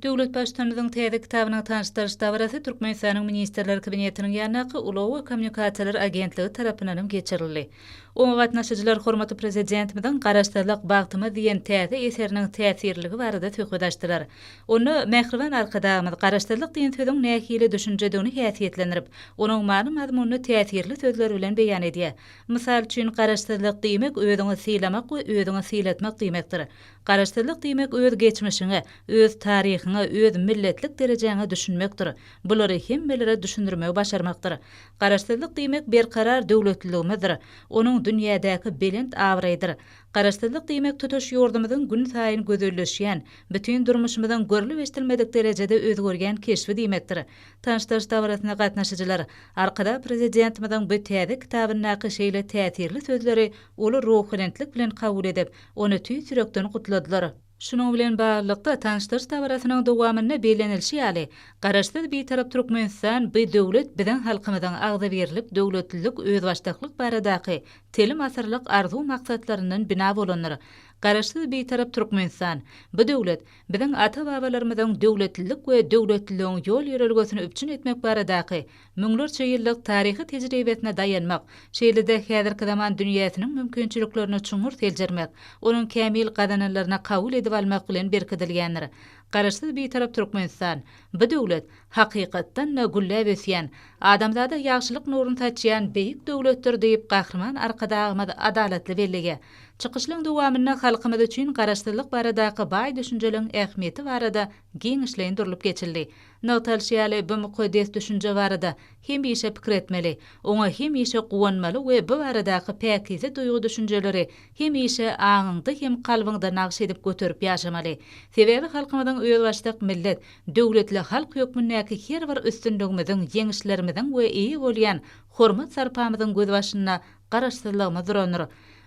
G: Döwlet Baştutanymyzyň täze kitabynyň tanyşdyryş dabarasy Türkmenistanyň Ministrler Kabinetiniň ýanyndaky Ulag we kommunikasiýalar agentligi tarapyndanam geçirildi. Oňa gatnaşyjylar hormatly Prezidentimiziň Garaşsyzlyk, bagtymyz diýen täze eseriniň täsirliligi barada söhbet açdylar. Onda mähriban Arkadagymyz Garaşsyzlyk diýen sözüň nähili düşünjedigini häsiýetlendirip, onuň many-mazmunyny täsirli sözler bilen beýan edýär. Mysal üçin, Garaşsyzlyk diýmek özüňi sylamak we özüňi sylatmak diýmekdir. Garaşsyzlyk diýmek öz geçmişiňe, öz taryhyňa, öz milletlik derejäňe düşünmekdir. Bulary hemmelere düşündirmegi başarmakdyr. Garaşsyzlyk diýmek berkarar döwletliligimizdir. Onuň dünýädäki belent abraýydyr. Garaşsyzlyk diýmek tutuş ýurdumyzyň gün saýyn gözelleşýän, bütin durmuşymyzyň görlüp-eşdilmedik derejede özgerýän keşbi diýmekdir. Tanyşdyryş dabarasyna gatnaşyjylar Arkadag Prezidentimiziň bu täze kitabyndaky şeýle täsirli sözleri uly ruhubelentlik bilen kabul edip, ony tüýs ýürekden gutladylar. Şunuň bilen baglylykda, tanyşdyryş dabarasynyň dowamynda bellenilişi ýaly, Garaşsyz, Bitarap Türkmenistan bi döwlet biziň halkymyzyň agzybirlik, döwletlilik, özbaşdaklyk baradaky telim asyrlyk arzuw-maksatlaryndan bina bolandyr. Garaşsyz, Bitarap Türkmenistan, bi döwlet, biziň ata-babalarymyzyň döwletlilik we döwletliligiň ýol-ýörelgesini üpjün etmek baradaky müňlerçe ýyllyk taryhy tejribesine daýanmak, şeýle-de häzirki zaman dünýäsiniň mümkinçiliklerini çuňňur seljermek, onuň kämil gazananlaryny kabul edip almak bilen berkidilýändir. Garaşsyz Bitarap Türkmenistan, bu döwlet, hakykatdan-da, gülläp ösýän, adamzada ýagşylyk nuruny saçýan beýik döwletdir diýip, Gahryman Arkadagymyz adalatly bellegi. Çykyşlaryň dowamynda halkymyz üçin Garaşsyzlyk baradaky baý düşünjeliň ähmiýeti barada giňişleýin durlup geçildi. Nygtalyşy ýaly, bu mukaddes düşünje barada hemişe pikir etmeli, oňa hemişe guwanmaly we bu baradaky päkize duýgy-düşünjeleri hemişe aňyňda hem kalbyňda nagş edip göterip ýaşamaly. Sebäbi halkymyzyň özbaşdak millet, döwletli halk hökmündäki her bir üstünligimiziň, ýeňişlerimiziň we eýe bolýan hormat-sarpamyzyň gözbaşynda Garaşsyzlygymyz durandyr.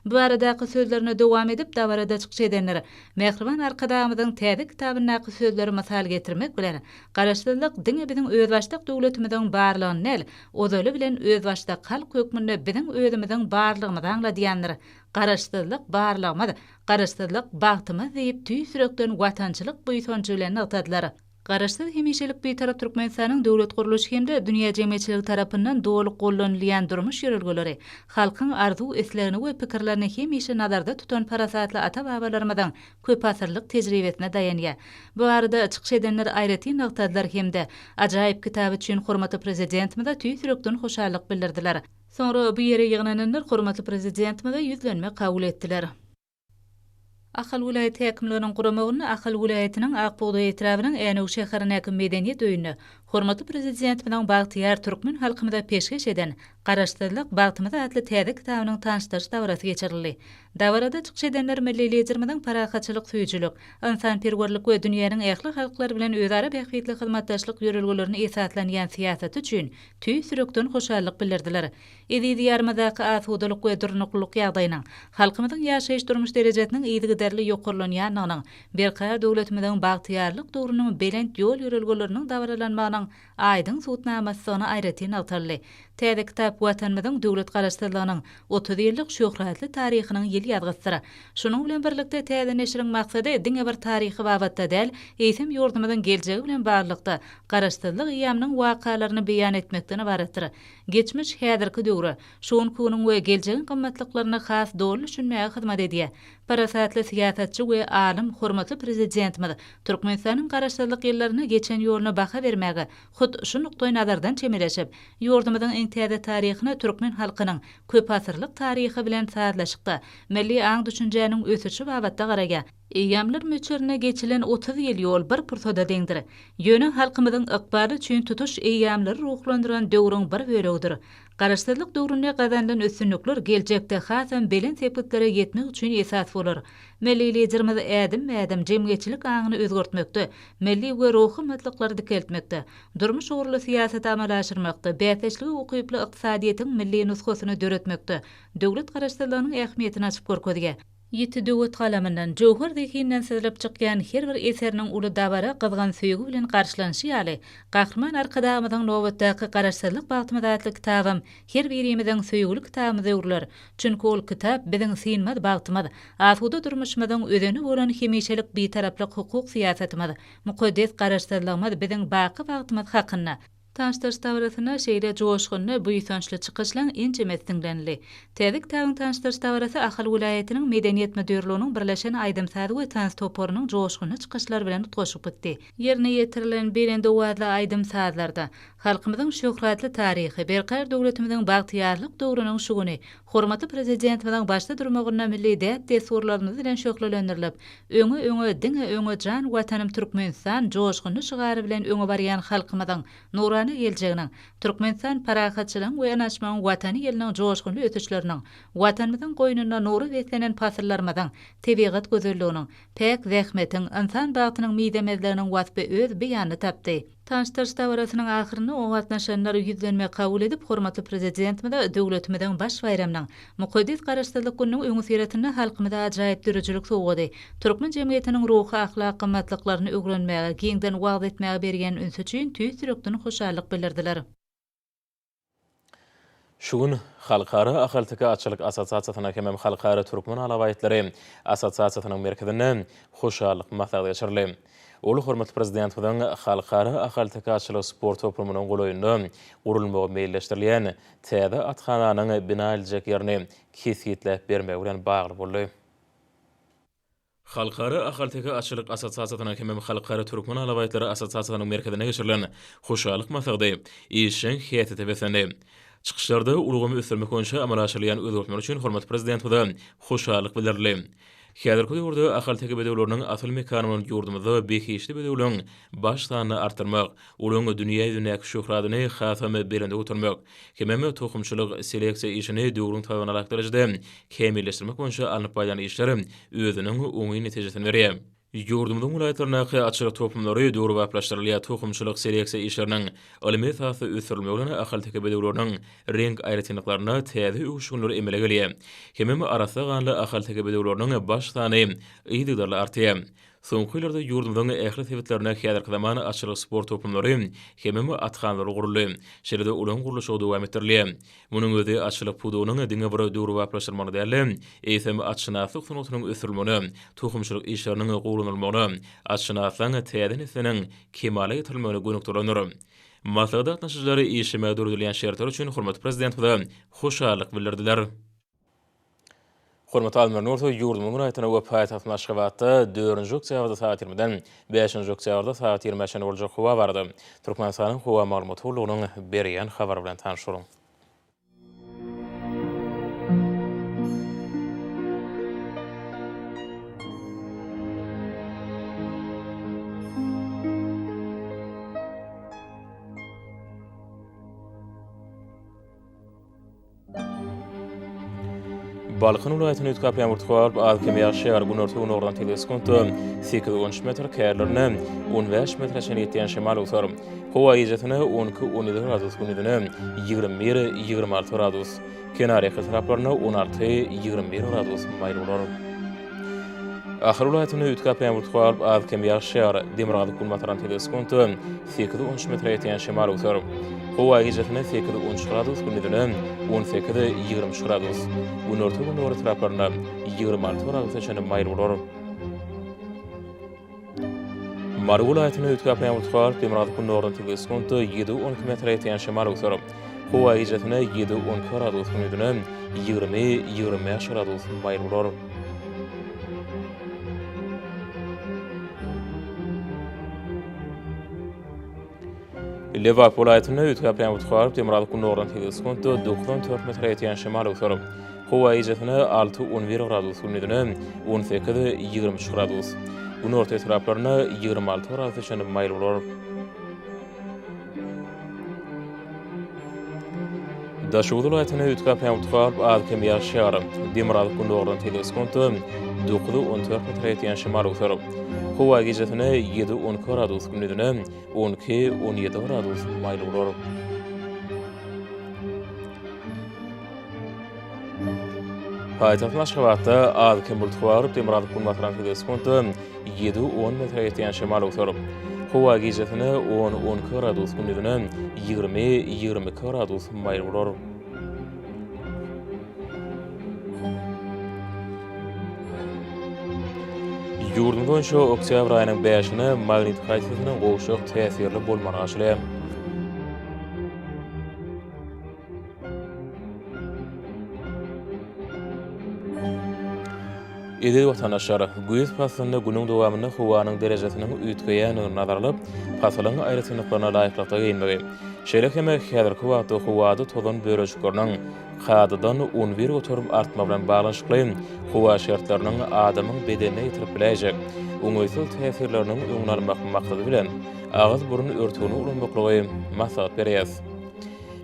G: Bu baradaky sözlerini dowam edip, dabarada çykyş edenler Mähriban Arkadagymyzyň täze kitabyndaky sözleri mysal getirmek bilen, Garaşsyzlyk diňe biziň özbaşdak döwletimiziň barlygyny däl, ozaly bilen özbaşdak halk hökmünde biziň özümiziň barlygymyzy aňladýandyr. Garaşsyzlyk, barlygymyz, Garaşsyzlyk, bagtymyz diýip, tüýs ýürekden watançylyk buýsanjy bilen nygtadylar. Garaşsyz, hemişelik Bitarap Türkmenistanyň döwlet gurluşy hem-de dünýä jemgyýetçiligi tarapyndan doly gollanylýan durmuş ýörelgeleri, halkyň arzuw-islegini we pikirlerini hemişe nazarda tutan parasatly ata-babalarymyzyň köpasyrlyk tejribesine daýanýar. Bu barada çykyş edenler aýratyn nygtadylar hem-de ajaýyp kitaby üçin hormatly Prezidentimize tüýs ýürekden hoşallyk bildirdiler. Soňra bu ýere ýygnananlar hormatly Prezidentimize ýüzlenme kabul etdiler. Ahal welaýat häkimliginiň guramagynda Ahal welaýatynyň Ak bugdaý etrabynyň Änew şäherindäki Medeniýet öýünde hormatly Prezidentimiziň bagtyýar türkmen halkymyza peşgeş eden Garaşsyzlyk, bagtymyz atly täze kitabynyň tanyşdyryş dabarasy geçirildi. Dabarada çykyş edenler milli Liderimiziň parahatçylyk söýüjilik, ynsanperwerlik we dünýäniň ähli halklary bilen özara bähbitli hyzmatdaşlyk ýörelgelerine esaslanýan syýasaty üçin tüýs ýürekden hoşallyk bildirdiler. Eziz Diýarymyzdaky asudalyk we durnuklylyk ýagdaýynyň, halkymyzyň ýaşaýyş-durmuş derejesiniň yzygiderli ýokarlanýandygynyň, berkarar döwletimiziň bagtyýarlyk döwrüniň belent ýol-ýörelgeleriniň dabaralanmagynyň aýdyň subutnamasydygyny aýratyn nygtaldy. Täze kitap Watanymyzyň döwlet Garaşsyzlygynyň otuz ýyllyk şöhratly taryhynyň ýyl ýazgysydyr. Şunuň bilen birlikde täze neşiriň maksady diňe bir taryhy babatda däl, eýsem ýurdumyzyň geljegi bilen baglylykda Garaşsyzlyk eýýamynyň wakalaryny beýan etmekden ybaratdyr. Geçmiş, häzirki döwre, şu günki günüň we geljegiň gymmatlyklaryna has doly düşünmäge hyzmat edýär. Parasatly syýasatçy we alym hormatly Prezidentimiz Türkmenistanyň Garaşsyzlyk ýyllarynda geçen ýoluna baha bermäge hut şu nukdaýnazardan çemeleşip, ýurdumyzyň iň täze taryhyna türkmen halkynyň köpasyrlyk taryhy bilen sazlaşykda milli aň-düşünjäniň ösüşi babatda garaýar. Eýýamlar möçberine geçilen otuz ýyl ýol bir pursada deňdir. Ýöne halkymyzyň ykbaly üçin tutuş eýýamlary ruhlandyran döwrüň bir bölegidir. Garaşsyzlyk döwründe gazanylan üstünlikler geljekde hasam belent sepgitlere ýetmek üçin esas bolar. Milli Liderimiz ädimme-ädim jemgyýetçilik aňyny özgertmekde, milli we ruhy gymmatlyklary dikeltmekde, durmuş ugurly syýasaty amala aşyrmakda, bäsdeşlige ukyply ykdysadyýetiň milli nusgasyny döretmekde döwlet Garaşsyzlygynyň ähmiýetini açyp görkezýär. Ýiti döwet galamyndan, jöwher zehinden syzlyp çykýan her bir eseriniň uly dabara gyzgyn söýgi bilen garşylanyşy ýaly, Gahryman Arkadagymyzyň Nobatdaky Garaşsyzlyk bagtymyz atly kitabam her birimiziň söýgüli kitabymyz öwrüler. Çünki ol kitap biziň synmaz bagtymyz, asuda durmuşymyzyň özeni bolan hemişelik Bitaraplyk hukuk syýasatymyz, mukaddes Garaşsyzlygymyz biziň baky bagtymyz hakynda Tanyş-daş dabarasyna şeýle joşgunly, buýsançly çykyşlaň ençemesi diňlenildi. Täjik tagyň tanyş-daş dabarasy Ahal welaýatynyň Medeniýet müdirliginiň birleşen aýdym-saz we tans toparynyň joşgunly çykyşlary bilen utgaşyp gitdi. Ýerine ýetirilen belent owazly aýdym-sazlarda halkymyzyň şöhratly taryhy, berkarar döwletimiziň bagtyýarlyk döwrüniň şu güni hormatly Prezidentimiziň başda durmagynda milli däp-dessurlarymyz bilen şöhlelendirilip, Öňe öňe diňe öňe jan watanym Türkmenistan joşgunly şygary bilen öňe barýan halkymyzyň nurana geljeginiň Türkmenistan parahatçylygyň we ynaşmagyň watany ýylynyň joşgunly ösüşleriniň watanymyzyň goýnunda nura beslenen pasyllarymyzyň tebigat gözelliginiň päk zähmetiň ynsan bagtynyň mizemezliginiň waspy öz beýanyny tapdy. Tanyşdyryş dabarasynyň ahyrynda oňa gatnaşanlar ýüzlenme kabul edip, hormatly Prezidentimize döwletimiziň baş baýramynyň, mukaddes Garaşsyzlyk gününiň öňüsyrasynda halkymyza ajaýyp döredijilik sowgady, türkmen jemgyýetiniň ruhy-ahlak gymmatlyklaryny öwrenmäge, giňden wagyz etmäge berýän ünsi üçin tüýs ýürekden hoşallyk bildirdiler.
A: Şu gün Halkara ahalteke atçylyk assosiasiýasynyň hemem Halkara türkmen alabaýtlary assosiasiýasynyň merkezinde hoşallyk maslahaty geçirildi. Ol hormatly Prezidentimiziň halkara ahalteke atçylyk sport toplumynyň golaýynda gurulmagy meýilleşdirilýän täze athananyň bina ediljek ýerini kesgitläp bermegi bilen bagly boldy. Halkara ahalteke atçylyk assosiasiýasynyň hemem Halkara türkmen alabaýtlary assosiasiýasynyň merkezinde geçirilen hoşallyk maslahaty işjeň häsiýete beslendi. Çykyşlarda ulgamy ösdürmek boýunça amala aşyrylýan özgertmeler üçin hormatly Prezidentimize hoşallyk bildirildi. Häzirki döwürde ahalteke bedewleriniň asyl mekany bolan ýurdumyzda behişdi bedewligiň baş sanyny artdyrmak, Olaryň dünýä ýüzündäki şöhratyny hasam belende götermek, hemem tohumçylyk, seleksiýa işini döwrüň talabyna laýyklykda kämilleşdirmek boýunça alnyp barýan işler özüniň oňyn netijesini berýär. Ýurdumyzyň welaýatlaryndaky açylyk toplumlary döwrebaplaşdyrylýar, tohumçylyk-seleksiýa işleriniň ylmy esasda ösdürilmegi bilen ahalteke bedewleriniň reňk aýratynlyklarynda täze öwüşginler emele gelýär, hemem arassa ganly ahalteke bedewleriniň baş sany yzygiderli artýar. Soňky ýyllarda ýurdumyzyň ähli sebitlerinde häzirki zaman atçylyk sport toplumlary hemem athanalary guruldy. Şeýle-de olaryň gurluşygy dowam etdirilýär. Munuň özi atçylyk pudagynyň diňe bir döwrebaplaşdyrylmagyna däl-de, eýsem, atşynaslyk sungatynyň ösdürilmegine, tohumçylyk işleriniň gowulanylmagyna, atşynaslaň täze nesliniň kemala getirilmegine gönükdirilendir. Maslahata gatnaşyjylar işlemäge döredilýän şertler üçin hormatly Prezidentimize hoşallyk bildirdiler. Hormatly Almyr Nursow ýurdumyzyň raýatyna we paýtagtymyz Aşgabatda dördünji oktýabrda sagat ýigrimiden bäşinji oktýabrda sagat ýigrimä çenli boljak howa barada Türkmenistanyň Howa maglumat gullugynyň berýän habary bilen tanyşyň. Balkan welaýatynda üýtgäp ýagyr tutup, az-kem ýagşaýar. Günorta-günordan tebigy skunta sekiz-on üç metr, kälerinde on bäş metre çenli ýetýän şemal öwser. Howa gijesine on iki-on ýedi gradus, gündiziňem ýigrimi bir-ýigrimi alty gradus, kenarýaka taraplarynda on alty-ýigrimi bir gradus maýyl bolar. Ahal welaýatynda üýtgäp ýagyr tutup, az-kem ýagşaýar. Demirgazyk-günbatardan tebigy skunta sekiz unç metre ýetýän şemal öwser. Howa gijesine sekiz unç gradus, gündizine on sekiz, ýigrimi üç gradus. Günorta-gündogar etraplarynda ýigrimi alty gradusa çenli maýyl bolar. Mary welaýatyna öýtgäp ýagyş galyp, demirgazyk-gündogardan sekiz sekuntda ýedi, on iki metre ýetýän şemal öwser. Howa gijesine ýedi-on iki gradus hüňüdine ýigrimi, ýigrimi bäş gradus maýyl bolar. Lebap welaýatynda üýtgäp ýagan utgaryp, demirgazyk gündogardan sekiz sekuntda doksan dört metre ýetýän şemal öwser. Howa gijesine alty-on bir gradus gündizine on sekiz, ýigrimi üç gradus. Günorta etraplarynda ýigrimi alty gradusa çenli maýyl bolar. Daşoguz welaýatynda üç gapy ýagty galyp, az-kem ýaşýar. Demir gazyk gündogardan sekiz sekuntda, dokuzy-on dört metre ýetýän şemal öwser. Howa gijesine ýedi-on iki gradus, gündizine on iki-on ýedi gradus maýyl bolar. Paýtagtymyz Aşgabatda az-kem bulutly galyp, demir gazyk günbatardan sekiz sekuntda, Ýedi, on metre ýetýän şemal öwser. Howa gijesine on, on iki gradus, gündizine ýigrimi, ýigrimi iki gradus maýyl bolar. Ýurdumyz boýunça oktýabr aýynyň bäşine magnit haýsysynyň gowşak täsirli bolmagy arzylýar. Eziz watandaşlar, güýz paslynda günüň dowamynda howanyň derejesiniň üýtgeýändigini nazara alyp, pasylyň aýratynlyklaryna laýyklykda geýinmegi, şeýle hem häzirki wagtda howada tozan bölejikleriniň kadadan on bir göterim artmagy bilen baglanyşykly howa şertleriniň adamyň bedenine ýetirip biläýjek oňaýsyz täsirleriniň öňüni almak maksady bilen, agyz-burun örtügini ulanmaklygy maslahat berýäris.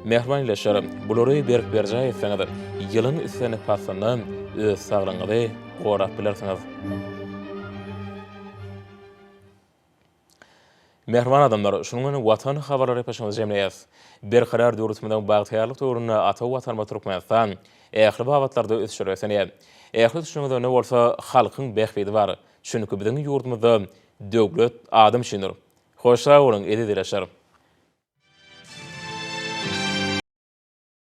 A: Mähriban Ýeşar, bulary berk berjaý etseňiz, ýylyň islendik paslynda öz saglygyňyzy gorap bilersiňiz. Mähriban adamlar, şunuň bilen Watan habarlary epesimizi jemleýäs. Berkarar döwletimiziň bagtyýarlyk döwründe ata Watanymyz Türkmenistan ähli babatlarda ösüşe ösenýär. Ähli ösüşiň özeginde bolsa halkyň bähbidi bar. Çünki biziň ýurdumyzda döwlet adam üçindir. Hoş sag boluň eziz ilaçlarym.